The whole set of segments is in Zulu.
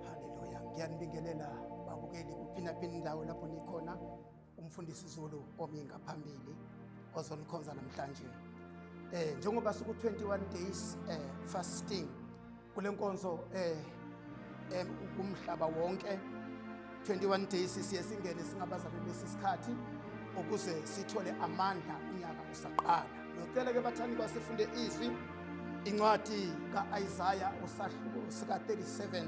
Haleluya. Ngiyanibingelela babukeli kuphi naphi indawo lapho nikhona. Umfundisi Zulu omi ngaphambili ozonikhonza namhlanje. Eh njengoba siku 21 days eh fasting kule nkonzo eh eh kumhlaba wonke 21 days siye singene singabazalwane besi sikhathi ukuze sithole amandla unyaka usaqala. Ngicela ke bathandi basifunde izwi incwadi ka-isaya usahluko sika-37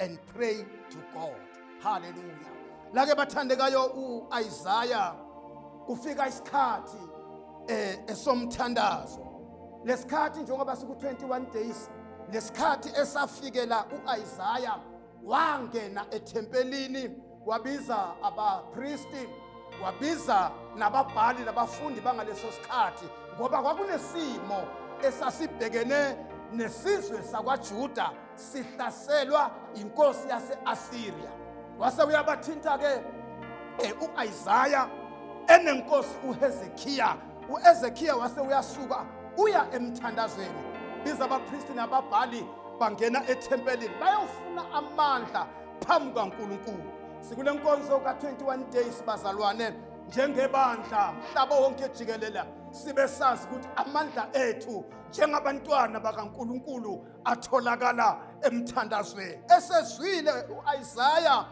and pray to God. Hallelujah. Lake bathandekayo uIsaiah kufika isikhathi eh esomthandazo. Lesikhathi njengoba siku 21 days lesikhathi esafikela uIsaiah wangena ethempelini wabiza abapristi wabiza nababhali nabafundi bangaleso sikhathi ngoba kwakunesimo esasibhekene nesizwe sakwaJuda sihlaselwa inkosi yaseAssyria wase uyabathinta ke eh, uIsaiah enenkosi uHezekiya uHezekiya wase uyasuka uya emthandazweni biza abapristi nababhali bangena ethempelini bayofuna amandla phambi kukaNkulunkulu. Sikule nkonzo ka-21 days bazalwane njengebandla mhlaba wonke jikelela sibe sazi ukuthi amandla ethu njengabantwana bakaNkuluNkulu atholakala emthandazweni esezwile uIsaya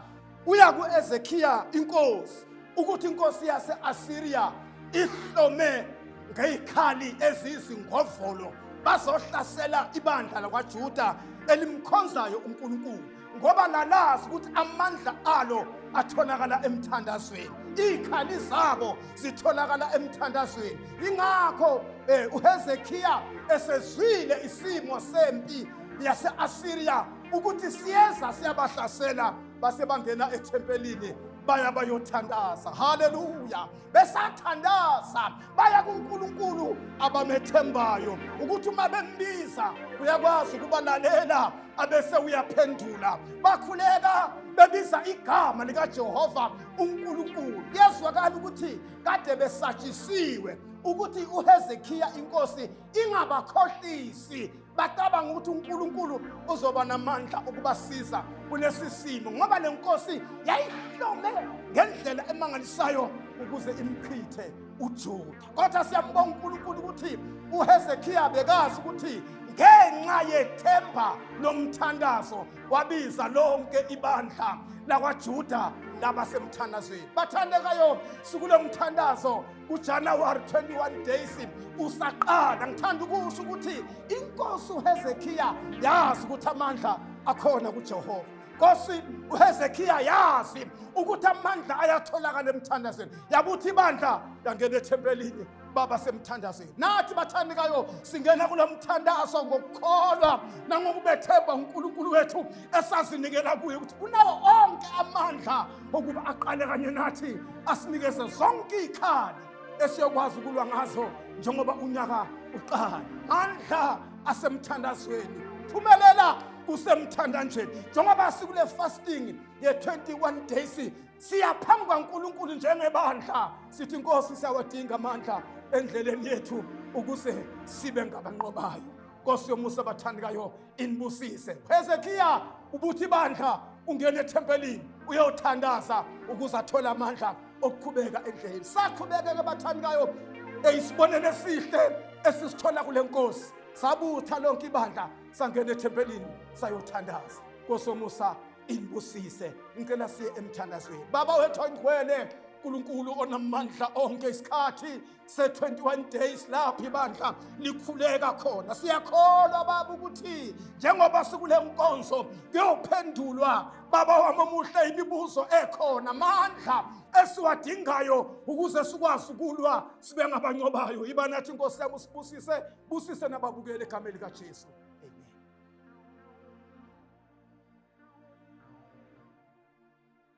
uya kuEzekiya inkosi ukuthi inkosi yaseAsiriya ihlome ngezikhali ezizingovolo bazohlasela ibandla lakwaJuda elimkhonzayo uNkulunkulu ngoba lalazi ukuthi amandla alo atholakala emthandazweni izikhali zabo zitholakala emthandazweni ingakho eh, uHezekiya esezwile isimo sempi yase-Asiriya ukuthi siyeza siyabahlasela base bangena ethempelini baya bayothandaza haleluya besathandaza baya kuNkulunkulu abamethembayo ukuthi uma bembiza uyakwazi ukubalalela abese uyaphendula bakhuleka bebiza igama likaJehova uNkulunkulu kuyezwakala ukuthi kade besatshisiwe ukuthi uHezekiya inkosi ingabakhohlisi bacabanga ukuthi uNkulunkulu uzoba namandla ukubasiza kulesi simo ngoba le nkosi yayihlome ngendlela emangalisayo ukuze imchithe uJuda kodwa siyambonga uNkulunkulu ukuthi uHezekiya bekazi ukuthi ngenxa yethemba lomthandazo wabiza lonke ibandla lakwaJuda labasemthandazweni bathandekayo sikulomthandazo kuJanuwari 21 days usaqala ngithanda ukusho ukuthi inkosi uHezekiya yazi ukuthi amandla akhona kuJehova nkosi uHezekiya yazi ukuthi amandla ayatholakala emthandazweni yabuthi ibandla yangena ethempelini baba semthandazweni nathi bathandekayo singena kulo mthandazo ngokukholwa nangokubethemba uNkulunkulu wethu esazinikela kuye ukuthi unawo onke amandla okuba aqale kanye nathi asinikeze zonke iy'khali esiyokwazi ukulwa ngazo njengoba unyaka uqala mandla asemthandazweni phumelela kusemthandanjeni njengoba sikule fasting ye-21 days siya phambi kwankulunkulu njengebandla sithi inkosi siyawadinga amandla endleleni yethu ukuze sibe ngabanqobayo nkosi yomusa abathandikayo inibusise hezekiya ubuthi bandla ungena ethempelini uyothandaza ukuze athole amandla okuqhubeka endleleni saqhubekeke bathandikayo eyisibonelo esihle esisithola kule nkosi sabutha lonke ibandla sangena ethempelini sayothandaza kosomusa inibusise ngicela siye emthandazweni baba wethu oyingcwele nkulunkulu onamandla onke isikhathi se-21 days lapho ibandla likhuleka khona siyakholwa baba ukuthi njengoba sikule nkonzo kuyophendulwa baba wami omuhle imibuzo ekhona amandla esiwadingayo ukuze sikwazi ukulwa sibe ngabancobayo iba nathi inkosi yami usibusise busise nababukeli egameni likajesu